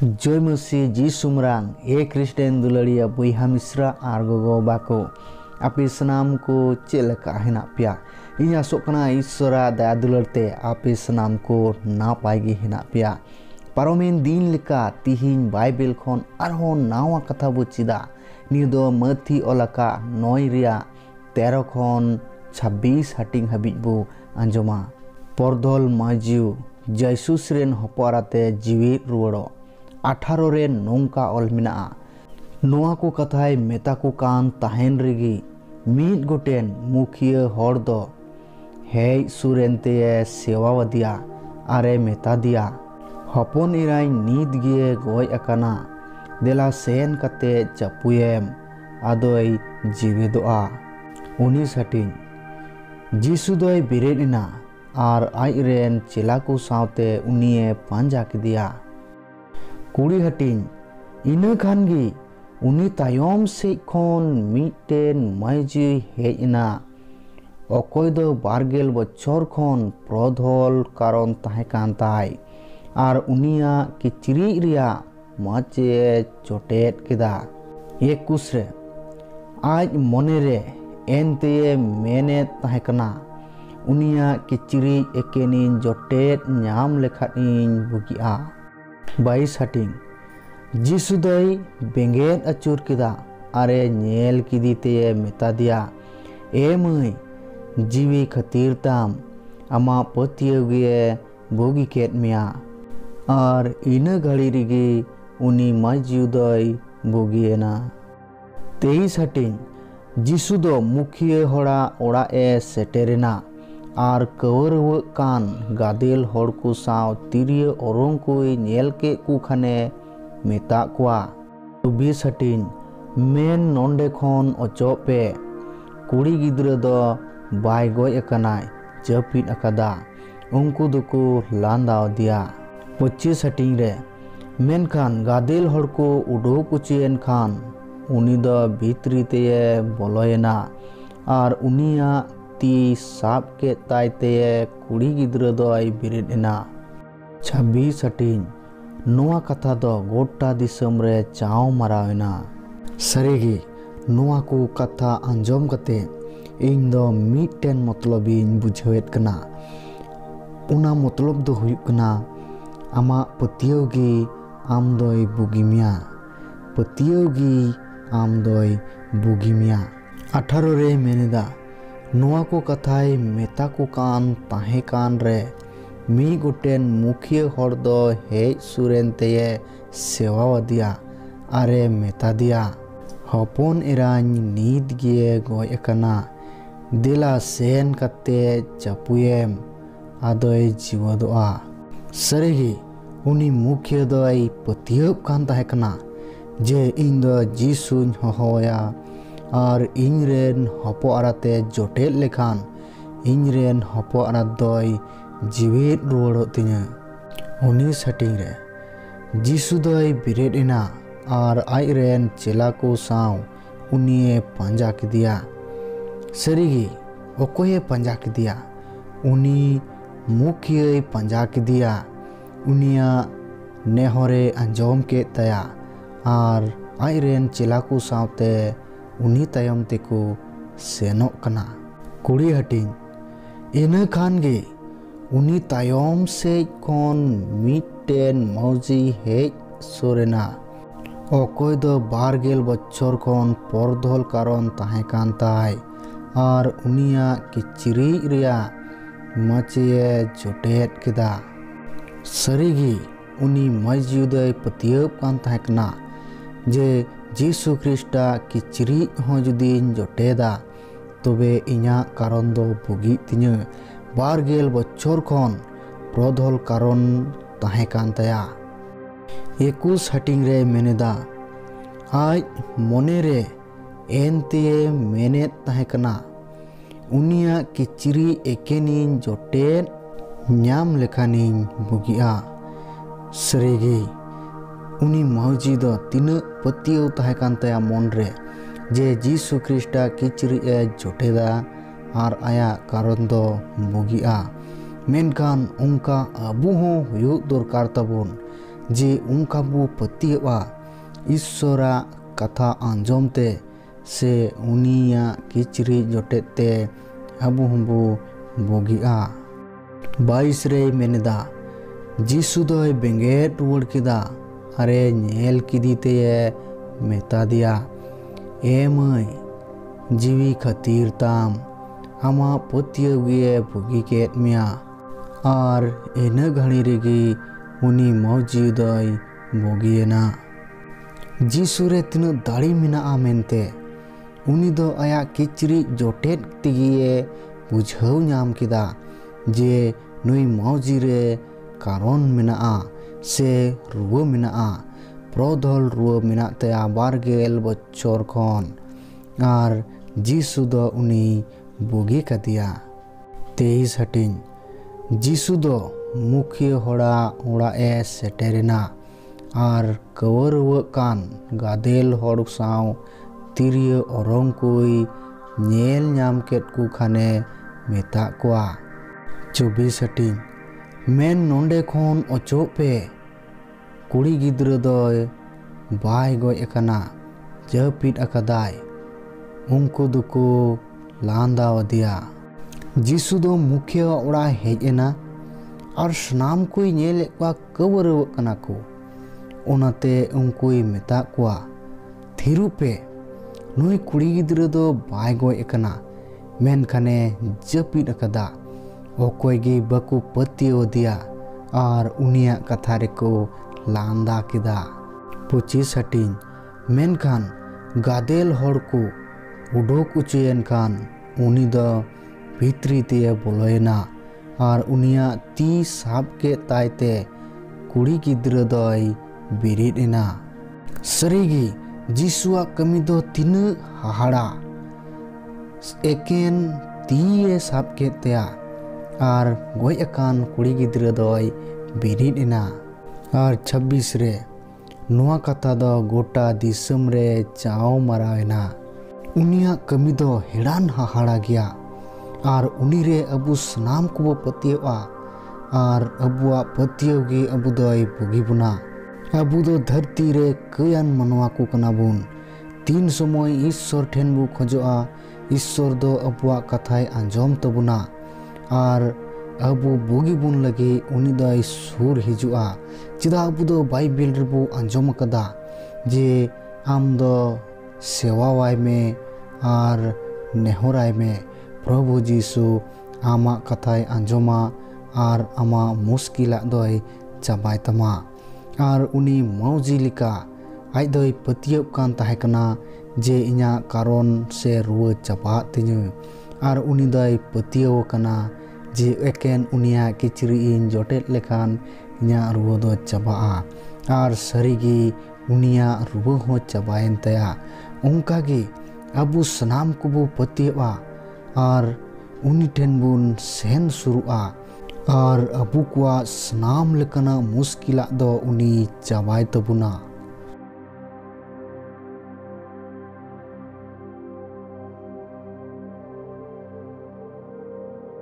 ᱡᱚᱭ ᱢᱚᱥᱤ ᱡᱤ ᱥᱩᱢᱨᱟᱝ ᱮ ᱠᱨᱤᱥᱴᱮᱱ ᱫᱩᱞᱟᱹᱲᱤᱭᱟᱹ ᱵᱚᱭᱦᱟ ᱢᱤᱥᱨᱟ ᱟᱨ ᱜᱚᱜᱚ ᱵᱟᱵᱟ ᱠᱚ ᱟᱯᱮ ᱥᱟᱱᱟᱢ ᱠᱚ ᱪᱮᱫ ᱞᱮᱠᱟ ᱦᱮᱱᱟᱜ ᱯᱮᱭᱟ ᱤᱧ ᱟᱥᱚᱜ ᱠᱟᱱᱟ ᱤᱥᱥᱚᱨᱟᱜ ᱫᱟᱭᱟ ᱫᱩᱞᱟᱹᱲ ᱛᱮ ᱟᱯᱮ ᱥᱟᱱᱟᱢ ᱠᱚ ᱱᱟᱯᱟᱭ ᱜᱮ ᱦᱮᱱᱟᱜ ᱯᱮᱭᱟ ᱯᱟᱨᱚᱢᱮᱱ ᱫᱤᱱ ᱞᱮᱠᱟ ᱛᱤᱦᱤᱧ ᱵᱟᱭᱵᱮᱞ ᱠᱷᱚᱱ ᱟᱨᱦᱚᱸ ᱱᱟᱣᱟ ᱠᱟᱛᱷᱟ ᱵᱚ ᱪᱮᱫᱟ ᱱᱤᱭᱟᱹ ᱫᱚ ᱢᱟᱹᱛᱷᱤ ᱚᱞ ᱟᱠᱟᱫ ᱱᱚᱭ ᱨᱮᱭᱟᱜ ᱛᱮᱨᱚ ᱠᱷᱚᱱ ᱪᱷᱟᱵᱵᱤᱥ ᱦᱟᱹᱴᱤᱧ ᱦᱟᱹᱵᱤᱡ ᱵᱚ ᱟᱸᱡᱚᱢᱟ ᱯᱚᱨᱫᱚᱞ ᱢᱟᱹᱡᱤᱣ ᱡᱟᱭᱥᱩᱥ ᱨᱮᱱ ᱦᱚᱯᱚᱨᱟᱛᱮ ᱡᱤᱣᱮᱫ ᱨᱩᱣᱟᱹᱲᱚᱜ ᱟᱴᱷᱟᱨᱚ ᱨᱮ ᱱᱚᱝᱠᱟ ᱚᱞ ᱢᱮᱱᱟᱜᱼᱟ ᱱᱚᱣᱟ ᱠᱚ ᱠᱟᱛᱷᱟᱭ ᱢᱮᱛᱟ ᱠᱚ ᱠᱟᱱ ᱛᱟᱦᱮᱱ ᱨᱮᱜᱮ ᱢᱤᱫ ᱜᱚᱴᱮᱱ ᱢᱩᱠᱷᱤᱭᱟᱹ ᱦᱚᱲ ᱫᱚ ᱦᱮᱡ ᱥᱩᱨ ᱮᱱᱛᱮᱭᱮ ᱥᱮᱣᱟᱣᱟᱫᱮᱭᱟ ᱟᱨᱮ ᱢᱮᱛᱟᱫᱮᱭᱟ ᱦᱚᱯᱚᱱ ᱮᱨᱟᱧ ᱱᱤᱛ ᱜᱮ ᱜᱚᱡ ᱟᱠᱟᱱᱟ ᱫᱮᱞᱟ ᱥᱮᱱ ᱠᱟᱛᱮ ᱪᱟᱯᱩᱭᱮᱢ ᱟᱫᱚᱭ ᱡᱮᱣᱮᱫᱚᱜᱼᱟ᱾ ᱩᱱᱤ ᱥᱟᱹᱴᱤᱧ ᱡᱤᱥᱩ ᱫᱚᱭ ᱵᱮᱨᱮᱫ ᱮᱱᱟ ᱟᱨ ᱟᱡ ᱨᱮᱱ ᱪᱮᱞᱟ ᱠᱚ ᱥᱟᱶᱛᱮ ᱩᱱᱤᱭᱮ ᱯᱟᱸᱡᱟ ᱠᱮᱫᱮᱭᱟ᱾ ᱠᱩᱲᱤ ᱦᱟᱹᱴᱤᱧ ᱤᱱᱟᱹ ᱠᱷᱟᱱ ᱜᱮ ᱩᱱᱤ ᱛᱟᱭᱚᱢ ᱥᱮᱡ ᱠᱷᱚᱱ ᱢᱤᱫᱴᱮᱱ ᱢᱟᱹᱭᱡᱩᱭ ᱦᱮᱡ ᱮᱱᱟ, ᱚᱠᱚᱭ ᱫᱚ ᱵᱟᱨᱜᱮᱞ ᱵᱚᱪᱷᱚᱨ ᱠᱷᱚᱱ ᱯᱨᱚᱫᱷᱚᱞ ᱠᱟᱨᱚᱱ ᱛᱟᱦᱮᱸ ᱠᱟᱱ ᱛᱟᱭ ᱟᱨ ᱩᱱᱤᱭᱟᱜ ᱠᱤᱪᱨᱤᱡ ᱨᱮᱭᱟᱜ ᱢᱟᱪᱮ ᱪᱚᱴᱮᱫ ᱠᱮᱫᱟ ᱮᱠᱩᱥ ᱨᱮ ᱟᱡ ᱢᱚᱱᱮ ᱨᱮ ᱮᱱᱛᱮ ᱢᱮᱱᱮᱫ ᱛᱟᱦᱮᱸ ᱠᱟᱱᱟ ᱩᱱᱤᱭᱟᱜ ᱠᱤᱪᱨᱤᱡ ᱮᱠᱮᱱᱤᱧ ᱡᱚᱴᱮᱫ ᱧᱟᱢ ᱞᱮᱠᱷᱟᱱ ᱤᱧ ᱵᱩᱜᱤᱜᱼᱟ ᱵᱟᱭᱤᱥ ᱦᱟᱹᱴᱤᱧ ᱡᱤᱥᱩ ᱫᱚᱭ ᱵᱮᱸᱜᱮᱫ ᱟᱹᱪᱩᱨ ᱠᱮᱫᱟ ᱟᱨᱮ ᱧᱮᱞ ᱠᱤᱫᱤ ᱛᱮ ᱢᱮᱛᱟ ᱫᱮᱭᱟ ᱮ ᱢᱟᱹᱭ ᱡᱤᱣᱤ ᱠᱷᱟᱹᱛᱤᱨ ᱛᱟᱢ ᱟᱢᱟᱜ ᱯᱟᱹᱛᱭᱟᱹᱣ ᱜᱮ ᱵᱩᱜᱤ ᱠᱮᱫ ᱢᱮᱭᱟ᱾ ᱟᱨ ᱤᱱᱟᱹ ᱜᱷᱟᱹᱲᱤ ᱨᱮᱜᱮ ᱩᱱᱤ ᱢᱟᱡᱭᱩ ᱫᱚᱭ ᱵᱩᱜᱤ ᱮᱱᱟ᱾ ᱛᱮᱭᱤᱥ ᱦᱟᱹᱴᱤᱧ, ᱡᱤᱥᱩ ᱫᱚ ᱢᱩᱠᱷᱤᱭᱟᱹ ᱦᱚᱲᱟᱜ ᱚᱲᱟᱜ ᱮ ᱥᱮᱴᱮᱨ ᱮᱱᱟ ᱟᱨ ᱠᱟᱹᱣᱨᱟᱹᱣᱜ ᱠᱟᱱ ᱜᱟᱫᱮᱞ ᱦᱚᱲ ᱠᱚ ᱥᱟᱶ ᱛᱤᱨᱭᱟᱹ ᱚᱨᱚᱝ ᱠᱚᱭ ᱧᱮᱞ ᱠᱮᱫ ᱠᱚ ᱠᱷᱟᱱᱮ ᱢᱮᱛᱟᱫ ᱠᱚᱣᱟ᱾ ᱪᱚᱵᱵᱤᱥ ᱦᱟᱹᱴᱤᱧ, ᱢᱮᱱ ᱱᱚᱱᱰᱮ ᱠᱷᱚᱱ ᱚᱪᱚᱜ ᱯᱮ, ᱠᱩᱲᱤ ᱜᱤᱫᱽᱨᱟᱹ ᱫᱚ ᱵᱟᱭ ᱜᱚᱡ ᱟᱠᱟᱱᱟᱭ, ᱡᱟᱹᱯᱤᱫ ᱟᱠᱟᱫᱟ᱾ ᱩᱱᱠᱩ ᱫᱚᱠᱚ ᱞᱟᱸᱫᱟ ᱟᱫᱮᱭᱟ ᱯᱚᱪᱷᱤ ᱥᱟᱹᱴᱤᱧ ᱨᱮ ᱢᱮᱱᱠᱷᱟᱱ ᱜᱟᱫᱮᱞ ᱦᱚᱲ ᱠᱚ ᱩᱰᱩᱠ ᱚᱪᱚᱭᱮᱱ ᱠᱷᱟᱱ ᱩᱱᱤ ᱫᱚ ᱵᱷᱤᱛᱨᱤ ᱛᱮᱭᱮ ᱵᱚᱞᱚᱭᱮᱱᱟ ᱟᱨ ᱩᱱᱤᱭᱟᱜ ᱛᱤ ᱥᱟᱵ ᱠᱮᱫ ᱛᱟᱭ ᱛᱮᱭᱮ ᱠᱩᱲᱤ ᱜᱤᱫᱽᱨᱟᱹ ᱫᱚᱭ ᱵᱮᱨᱮᱫ ᱮᱱᱟ ᱪᱷᱟᱵᱤ ᱥᱟᱹᱴᱤᱧ ᱱᱚᱣᱟ ᱠᱟᱛᱷᱟ ᱫᱚ ᱜᱚᱴᱟ ᱫᱤᱥᱚᱢ ᱨᱮ ᱪᱟᱶ ᱢᱟᱨᱟᱣ ᱮᱱᱟ᱾ ᱥᱟᱹᱨᱤ ᱜᱮ ᱱᱚᱣᱟ ᱠᱚ ᱠᱟᱛᱷᱟ ᱟᱸᱡᱚᱢ ᱠᱟᱛᱮ ᱤᱧ ᱫᱚ ᱢᱤᱫᱴᱮᱱ ᱢᱚᱛᱞᱚᱵ ᱤᱧ ᱵᱩᱡᱷᱟᱹᱣᱮᱫ ᱠᱟᱱᱟ᱾ ᱚᱱᱟ ᱢᱚᱛᱞᱚᱵ ᱫᱚ ᱦᱩᱭᱩᱜ ᱠᱟᱱᱟ ᱟᱢᱟᱜ ᱯᱟᱹᱛᱭᱟᱹᱣ ᱜᱮ ᱟᱢ ᱫᱚᱭ ᱵᱩᱜᱤ ᱢᱮᱭᱟ᱾ ᱯᱟᱹᱛᱭᱟᱹᱣ ᱜᱮ ᱟᱢ ᱫᱚᱭ ᱵᱩᱜᱤ ᱢᱮᱭᱟ᱾ ᱟᱴᱷᱟᱨᱚ ᱨᱮᱭ ᱢᱮᱱ ᱮᱫᱟ, ᱱᱚᱶᱟ ᱠᱚ ᱠᱟᱛᱷᱟᱭ ᱢᱮᱛᱟ ᱠᱚ ᱠᱟᱱ ᱛᱟᱦᱮᱸ ᱠᱟᱱ ᱨᱮ ᱢᱤᱫ ᱜᱚᱴᱮᱱ ᱢᱩᱠᱷᱤᱭᱟᱹ ᱦᱚᱲ ᱫᱚ ᱦᱮᱡ ᱥᱩᱨ ᱮᱱ ᱛᱮᱭᱮ ᱥᱮᱣᱟ ᱟᱫᱮᱭᱟ ᱟᱨ ᱮ ᱢᱮᱛᱟ ᱫᱮᱭᱟ, ᱦᱚᱯᱚᱱ ᱮᱨᱟᱧ ᱱᱤᱛ ᱜᱮ ᱜᱚᱡ ᱟᱠᱟᱱᱟ, ᱫᱮᱞᱟ ᱥᱮᱱ ᱠᱟᱛᱮ ᱪᱟᱯᱩᱭᱮᱢ, ᱟᱫᱚᱭ ᱡᱤᱣᱟᱹᱫᱚᱜᱼᱟ᱾ ᱥᱟᱹᱨᱤ ᱜᱮ ᱩᱱᱤ ᱢᱩᱠᱷᱤᱭᱟᱹ ᱫᱚᱭ ᱯᱟᱹᱛᱭᱟᱹᱣᱜ ᱠᱟᱱ ᱛᱟᱦᱮᱸ ᱠᱟᱱᱟ᱾ ᱡᱮ ᱤᱧ ᱫᱚ ᱡᱤᱥᱩᱧ ᱦᱚᱦᱚᱣᱟᱭᱟ ᱟᱨ ᱤᱧ ᱨᱮᱱ ᱦᱚᱯᱚ ᱟᱨᱟᱛᱮ ᱡᱚᱴᱮᱫ ᱞᱮᱠᱷᱟᱱ ᱤᱧ ᱨᱮᱱ ᱦᱚᱯᱚ ᱟᱨᱟᱛ ᱫᱚᱭ ᱡᱤᱣᱮᱫ ᱨᱩᱣᱟᱹᱲᱚᱜ ᱛᱤᱧᱟᱹ ᱩᱱᱤ ᱥᱮᱴᱤᱝ ᱨᱮ ᱡᱤᱥᱩ ᱫᱚᱭ ᱵᱮᱨᱮᱫ ᱮᱱᱟ ᱟᱨ ᱟᱡ ᱨᱮᱱ ᱪᱮᱞᱟ ᱠᱚ ᱥᱟᱶ ᱩᱱᱤᱭᱮ ᱯᱟᱸᱡᱟ ᱠᱮᱫᱮᱭᱟ ᱥᱟᱹᱨᱤᱜᱮ ᱚᱠᱚᱭᱮ ᱯᱟᱸᱡᱟ ᱠᱮᱫᱮᱭᱟ ᱩᱱᱤ ᱢᱩᱠᱷᱤᱭᱟᱹᱭ ᱯᱟᱸᱡᱟ ᱠᱮᱫᱮᱭᱟ ᱩᱱᱤᱭᱟᱜ ᱱᱮᱦᱚᱨᱮ ᱟᱸᱡᱚᱢ ᱠᱮᱫ ᱛᱟᱭᱟ ᱟᱨ ᱟᱡ ᱨᱮᱱ ᱪᱮᱞᱟ ᱠᱚ ᱥᱟᱶᱛᱮ ᱩᱱᱤ ᱛᱟᱭᱚᱢ ᱛᱮᱠᱚ ᱥᱮᱱᱚᱜ ᱠᱟᱱᱟ᱾ ᱠᱩᱲᱤ ᱦᱟᱹᱴᱤᱧ᱾ ᱤᱱᱟᱹ ᱠᱷᱟᱱ ᱜᱮ ᱩᱱᱤ ᱛᱟᱭᱚᱢ ᱥᱮᱡ ᱠᱷᱚᱱ ᱢᱤᱫᱴᱮᱱ ᱢᱟᱹᱣᱡᱤ ᱦᱮᱡ ᱥᱩᱨ ᱮᱱᱟ, ᱚᱠᱚᱭ ᱫᱚ ᱵᱟᱨ ᱜᱮᱞ ᱵᱚᱪᱷᱚᱨ ᱠᱷᱚᱱ ᱯᱚᱨᱫᱷᱚᱞ ᱠᱟᱨᱚᱱ ᱛᱟᱦᱮᱸ ᱠᱟᱱ ᱛᱟᱭ ᱟᱨ ᱩᱱᱤᱭᱟᱜ ᱠᱤᱪᱨᱤᱡ ᱨᱮᱭᱟᱜ ᱢᱟᱹᱪᱤ ᱮ ᱡᱚᱴᱮᱫ ᱠᱮᱫᱟ᱾ ᱥᱟᱹᱨᱤᱜᱮ ᱩᱱᱤ ᱢᱚᱡᱽ ᱡᱩᱫᱟᱹᱭ ᱯᱟᱹᱛᱭᱟᱹᱣ ᱠᱟᱱ ᱛᱟᱦᱮᱸ ᱠᱟᱱᱟ ᱡᱮ ᱡᱤᱥᱩ ᱠᱷᱨᱤᱥᱴᱟᱜ ᱠᱤᱪᱨᱤᱡ ᱦᱚᱸ ᱡᱩᱫᱤᱧ ᱡᱚᱴᱮᱫᱟ ᱛᱚᱵᱮ ᱤᱧᱟᱹᱜ ᱠᱟᱨᱚᱱ ᱫᱚ ᱵᱩᱜᱤᱜ ᱛᱤᱧᱟᱹ ᱵᱟᱨ ᱜᱮᱞ ᱵᱚᱪᱷᱚᱨ ᱠᱷᱚᱱ ᱯᱨᱚᱫᱷᱚᱞ ᱠᱟᱨᱚᱱ ᱛᱟᱦᱮᱸ ᱠᱟᱱ ᱛᱟᱭᱟ ᱮᱠᱩᱥ ᱦᱟᱹᱴᱤᱧ ᱨᱮ ᱢᱮᱱᱮᱫᱟ ᱟᱡ ᱢᱚᱱᱮ ᱨᱮ ᱮᱱᱛᱮ ᱢᱮᱱᱮᱫ ᱛᱟᱦᱮᱸ ᱠᱟᱱᱟ ᱩᱱᱤᱭᱟᱜ ᱠᱤᱪᱨᱤᱡ ᱮᱠᱮᱱᱤᱧ ᱡᱚᱴᱮᱫ ᱧᱟᱢ ᱞᱮᱠᱷᱟᱱᱤᱧ ᱵᱩᱜᱤᱜᱼᱟ ᱥᱟᱹᱨᱤᱜᱮ ᱩᱱᱤ ᱢᱟᱹᱣᱡᱤ ᱫᱚ ᱛᱤᱱᱟᱹᱜ ᱯᱟᱹᱛᱭᱟᱹᱣ ᱛᱟᱦᱮᱸ ᱠᱟᱱ ᱛᱟᱭᱟ ᱢᱚᱱᱨᱮ ᱡᱮ ᱡᱤᱥᱩ ᱠᱷᱨᱤᱥᱴᱟ ᱠᱤᱪᱨᱤᱡ ᱮ ᱡᱚᱴᱮᱫᱟ ᱟᱨ ᱟᱭᱟᱜ ᱠᱟᱨᱚᱱ ᱫᱚ ᱵᱩᱜᱤᱜᱼᱟ ᱢᱮᱱᱠᱷᱟᱱ ᱚᱱᱠᱟ ᱟᱵᱚ ᱦᱚᱸ ᱦᱩᱭᱩᱜ ᱫᱚᱨᱠᱟᱨ ᱛᱟᱵᱚᱱ ᱡᱮ ᱚᱱᱠᱟ ᱵᱚ ᱯᱟᱹᱛᱭᱟᱹᱜᱼᱟ ᱤᱥᱥᱚᱨᱟᱜ ᱠᱟᱛᱷᱟ ᱟᱸᱡᱚᱢ ᱛᱮ ᱥᱮ ᱩᱱᱤᱭᱟᱜ ᱠᱤᱪᱨᱤᱡ ᱡᱚᱴᱮᱫ ᱛᱮ ᱦᱟᱹᱵᱩ ᱦᱩᱸᱵᱩ ᱵᱩᱜᱤᱜᱼᱟ᱾ ᱵᱟᱭᱤᱥ ᱨᱮᱭ ᱢᱮᱱ ᱮᱫᱟ, ᱡᱤᱥᱩ ᱫᱚᱭ ᱵᱮᱸᱜᱮᱫ ᱨᱩᱣᱟᱹᱲ ᱠᱮᱫᱟ ᱟᱨ ᱮ ᱧᱮᱞ ᱠᱤᱫᱤ ᱛᱮ ᱮ ᱢᱮᱛᱟᱫᱮᱭᱟ, ᱮ ᱢᱟᱹᱭ, ᱡᱤᱣᱤ ᱠᱷᱟᱹᱛᱤᱨ ᱛᱟᱢ, ᱟᱢᱟᱜ ᱯᱟᱹᱛᱭᱟᱹᱣ ᱜᱮ ᱮ ᱵᱩᱜᱤ ᱠᱮᱫ ᱢᱮᱭᱟ᱾ ᱟᱨ ᱤᱱᱟᱹ ᱜᱷᱟᱹᱲᱤ ᱨᱮᱜᱮ ᱩᱱᱤ ᱢᱟᱹᱣᱡᱤ ᱫᱚᱭ ᱵᱩᱜᱤᱭᱮᱱᱟ ᱡᱤᱥᱩ ᱨᱮ ᱛᱤᱱᱟᱹᱜ ᱫᱟᱲᱮ ᱢᱮᱱᱟᱜᱼᱟ ᱢᱮᱱᱛᱮ ᱩᱱᱤ ᱫᱚ ᱟᱭᱟᱜ ᱠᱤᱪᱨᱤᱡ ᱡᱚᱴᱮᱫ ᱛᱮᱜᱮ ᱵᱩᱡᱷᱟᱹᱣ ᱧᱟᱢ ᱠᱮᱫᱟ ᱡᱮ ᱱᱩᱭ ᱢᱟᱹᱣᱡᱤ ᱨᱮ ᱠᱟᱨᱚᱱ ᱢᱮᱱᱟᱜᱼᱟ ᱥᱮ ᱨᱩᱣᱟᱹ ᱢᱮᱱᱟᱜᱼᱟ ᱯᱨᱚᱫᱷᱚᱞ ᱨᱩᱣᱟᱹ ᱢᱮᱱᱟᱜ ᱛᱟᱭᱟ ᱵᱟᱨᱜᱮᱞ ᱵᱚᱪᱷᱚᱨ ᱠᱷᱚᱱ ᱟᱨ ᱡᱤᱥᱩ ᱫᱚ ᱩᱱᱤ ᱵᱩᱜᱤ ᱠᱟᱫᱮᱭᱟ ᱛᱮᱭᱤᱥ ᱦᱟᱹᱴᱤᱧ ᱡᱤᱥᱩ ᱫᱚ ᱢᱩᱠᱷᱤᱭᱟᱹ ᱦᱚᱲᱟᱜ ᱚᱲᱟᱜ ᱮ ᱥᱮᱴᱮᱨ ᱮᱱᱟ ᱟᱨ ᱠᱟᱹᱣᱟᱹᱨᱣᱟᱹᱜ ᱠᱟᱱ ᱜᱟᱫᱮᱞ ᱦᱚᱲ ᱥᱟᱶ ᱛᱤᱨᱭᱟᱹ ᱚᱨᱚᱝ ᱠᱚᱭ ᱧᱮᱞ ᱧᱟᱢ ᱠᱮᱫ ᱠᱚ ᱠᱷᱟᱱᱮ ᱢᱮᱛᱟᱜ ᱠᱚᱣᱟ᱾ ᱪᱚᱵᱤᱥ ᱦᱟᱹᱴᱤᱧ ᱢᱮᱱ ᱱᱚᱸᱰᱮ ᱠᱷᱚᱱ ᱚᱪᱚᱜ ᱯᱮ᱾ ᱠᱩᱲᱤ ᱜᱤᱫᱽᱨᱟᱹ ᱫᱚᱭ ᱵᱟᱭ ᱜᱚᱡ ᱟᱠᱟᱱᱟ, ᱡᱟᱹᱯᱤᱫ ᱟᱠᱟᱫᱟᱭ᱾ ᱩᱱᱠᱩ ᱫᱚᱠᱚ ᱞᱟᱸᱫᱟ ᱟᱫᱮᱭᱟ᱾ ᱡᱤᱥᱩ ᱫᱚ ᱢᱩᱠᱷᱤᱭᱟᱹᱣᱟᱜ ᱚᱲᱟᱜ ᱮ ᱦᱮᱡ ᱮᱱᱟ ᱟᱨ ᱥᱟᱱᱟᱢ ᱠᱚᱭ ᱧᱮᱞ ᱮᱫ ᱠᱚᱣᱟ ᱠᱟᱹᱣᱨᱟᱹᱣᱜ ᱠᱟᱱᱟ ᱠᱚ᱾ ᱚᱱᱟᱛᱮ ᱩᱱᱠᱩᱭ ᱢᱮᱛᱟᱫ ᱠᱚᱣᱟ, ᱛᱷᱤᱨᱩᱜ ᱯᱮ, ᱱᱩᱭ ᱠᱩᱲᱤ ᱜᱤᱫᱽᱨᱟᱹ ᱫᱚ ᱵᱟᱭ ᱜᱚᱡ ᱟᱠᱟᱱᱟ᱾ ᱢᱮᱱᱠᱷᱟᱱᱮ ᱡᱟᱹᱯᱤᱫ ᱟᱠᱟᱫᱟ ᱚᱠᱚᱭ ᱜᱮ ᱵᱟᱠᱚ ᱯᱟᱹᱛᱭᱟᱹᱣ ᱟᱫᱮᱭᱟ ᱟᱨ ᱩᱱᱤᱭᱟᱜ ᱠᱟᱛᱷᱟ ᱨᱮᱠᱚ ᱞᱟᱸᱫᱟ ᱠᱮᱫᱟ᱾ ᱯᱚᱸᱪᱤᱥ ᱦᱟᱹᱴᱤᱧ ᱢᱮᱱᱠᱷᱟᱱ ᱜᱟᱫᱮᱞ ᱦᱚᱲ ᱠᱚ ᱩᱰᱩᱠ ᱚᱪᱚᱭᱮᱱ ᱠᱷᱟᱱ ᱩᱱᱤ ᱫᱚ ᱵᱷᱤᱛᱨᱤ ᱛᱮᱭᱮ ᱵᱚᱞᱚᱭᱮᱱᱟ ᱟᱨ ᱩᱱᱤᱭᱟᱜ ᱛᱤ ᱥᱟᱵ ᱠᱮᱫ ᱛᱟᱭ ᱛᱮ ᱠᱩᱲᱤ ᱜᱤᱫᱽᱨᱟᱹ ᱫᱚᱭ ᱵᱮᱨᱮᱫ ᱮᱱᱟ᱾ ᱥᱟᱹᱨᱤ ᱜᱮ ᱡᱤᱥᱩᱣᱟᱜ ᱠᱟᱹᱢᱤ ᱫᱚ ᱛᱤᱱᱟᱹᱜ ᱦᱟᱦᱟᱲᱟ! ᱮᱠᱮᱱ ᱛᱤᱭᱮ ᱥᱟᱵ ᱠᱮᱫ ᱛᱟᱭᱟ ᱟᱨ ᱜᱚᱡ ᱟᱠᱟᱱ ᱠᱩᱲᱤ ᱜᱤᱫᱽᱨᱟᱹ ᱫᱚᱭ ᱵᱮᱨᱮᱫ ᱮᱱᱟ ᱟᱨ ᱪᱷᱟᱵᱵᱤᱥ ᱨᱮ ᱱᱚᱣᱟ ᱠᱟᱛᱷᱟ ᱫᱚ ᱜᱚᱴᱟ ᱫᱤᱥᱚᱢ ᱨᱮ ᱪᱟᱣ ᱢᱟᱨᱟᱣ ᱮᱱᱟ᱾ ᱩᱱᱤᱭᱟᱜ ᱠᱟᱹᱢᱤ ᱫᱚ ᱦᱮᱲᱟᱱ ᱦᱟᱦᱟᱲᱟ ᱜᱮᱭᱟ ᱟᱨ ᱩᱱᱤ ᱨᱮ ᱟᱵᱚ ᱥᱟᱱᱟᱢ ᱠᱚᱵᱚ ᱯᱟᱹᱛᱭᱟᱹᱣᱜᱼᱟ ᱟᱨ ᱟᱵᱚᱣᱟᱜ ᱯᱟᱹᱛᱭᱟᱹᱣ ᱜᱮ ᱟᱵᱚ ᱫᱚᱭ ᱵᱩᱜᱤ ᱵᱚᱱᱟ᱾ ᱟᱵᱚ ᱫᱚ ᱫᱷᱟᱹᱨᱛᱤ ᱨᱮ ᱠᱟᱹᱭᱟᱱ ᱢᱟᱱᱣᱟ ᱠᱚ ᱠᱟᱱᱟ ᱵᱚᱱ᱾ ᱛᱤᱱ ᱥᱚᱢᱚᱭ ᱤᱥᱥᱚᱨ ᱴᱷᱮᱱ ᱵᱚ ᱠᱷᱚᱡᱚᱜᱼᱟ ᱤᱥᱥᱚᱨ ᱫᱚ ᱟᱵᱚᱣᱟᱜ ᱠᱟᱛᱷᱟᱭ ᱟᱸᱡᱚᱢ ᱛᱟᱵᱚᱱᱟ ᱟᱨ ᱟᱵᱚ ᱵᱩᱜᱤ ᱵᱚᱱ ᱞᱟᱹᱜᱤᱫ ᱩᱱᱤ ᱫᱚᱭ ᱥᱩᱨ ᱦᱤᱡᱩᱜᱼᱟ ᱪᱮᱫᱟᱜ ᱟᱵᱚ ᱫᱚ ᱵᱟᱭᱵᱮᱞ ᱨᱮᱵᱚ ᱟᱸᱡᱚᱢ ᱟᱠᱟᱫᱟ ᱡᱮ ᱟᱢ ᱫᱚ ᱥᱮᱣᱟᱣᱟᱭ ᱢᱮ ᱟᱨ ᱱᱮᱦᱚᱨᱟᱭ ᱢᱮ ᱯᱨᱚᱵᱷᱩ ᱡᱤᱥᱩ ᱟᱢᱟᱜ ᱠᱟᱛᱷᱟᱭ ᱟᱸᱡᱚᱢᱟ ᱟᱨ ᱟᱢᱟᱜ ᱢᱩᱥᱠᱤᱞᱟᱜ ᱫᱚᱭ ᱪᱟᱵᱟᱭ ᱛᱟᱢᱟ ᱟᱨ ᱩᱱᱤ ᱢᱟᱹᱣᱡᱤ ᱞᱮᱠᱟ ᱟᱡ ᱫᱚᱭ ᱯᱟᱹᱛᱭᱟᱹᱜ ᱠᱟᱱ ᱛᱟᱦᱮᱸ ᱠᱟᱱᱟ ᱡᱮ ᱤᱧᱟᱜ ᱠᱟᱨᱚᱱ ᱥᱮ ᱨᱩᱣᱟᱹ ᱪᱟᱵᱟᱜ ᱛᱤᱧᱟᱹ ᱟᱨ ᱩᱱᱤ ᱫᱚᱭ ᱯᱟᱹᱛᱭᱟᱹᱣ ᱟᱠᱟᱱᱟ ᱡᱮ ᱮᱠᱮᱱ ᱩᱱᱤᱭᱟᱜ ᱠᱤᱪᱨᱤᱡ ᱤᱧ ᱡᱚᱴᱮᱫ ᱞᱮᱠᱷᱟᱱ ᱤᱧᱟᱜ ᱨᱩᱣᱟᱹ ᱫᱚ ᱪᱟᱵᱟᱜᱼᱟ᱾ ᱟᱨ ᱥᱟᱹᱨᱤ ᱜᱮ ᱩᱱᱤᱭᱟᱜ ᱨᱩᱣᱟᱹ ᱦᱚᱸ ᱪᱟᱵᱟᱭᱮᱱ ᱛᱟᱭᱟ᱾ ᱚᱱᱠᱟ ᱜᱮ ᱟᱵᱚ ᱥᱟᱱᱟᱢ ᱠᱚᱵᱚ ᱯᱟᱹᱛᱭᱟᱹᱜᱼᱟ ᱟᱨ ᱩᱱᱤ ᱴᱷᱮᱱ ᱵᱚᱱ ᱥᱮᱱ ᱥᱩᱨᱩᱜᱼᱟ᱾ ᱟᱨ ᱟᱵᱚ ᱠᱚᱣᱟᱜ ᱥᱟᱱᱟᱢ ᱞᱮᱠᱟᱱᱟᱜ ᱢᱩᱥᱠᱤᱞᱟᱜ ᱫᱚ ᱩᱱᱤ ᱪᱟᱵᱟᱭ ᱛᱟᱵᱚᱱᱟ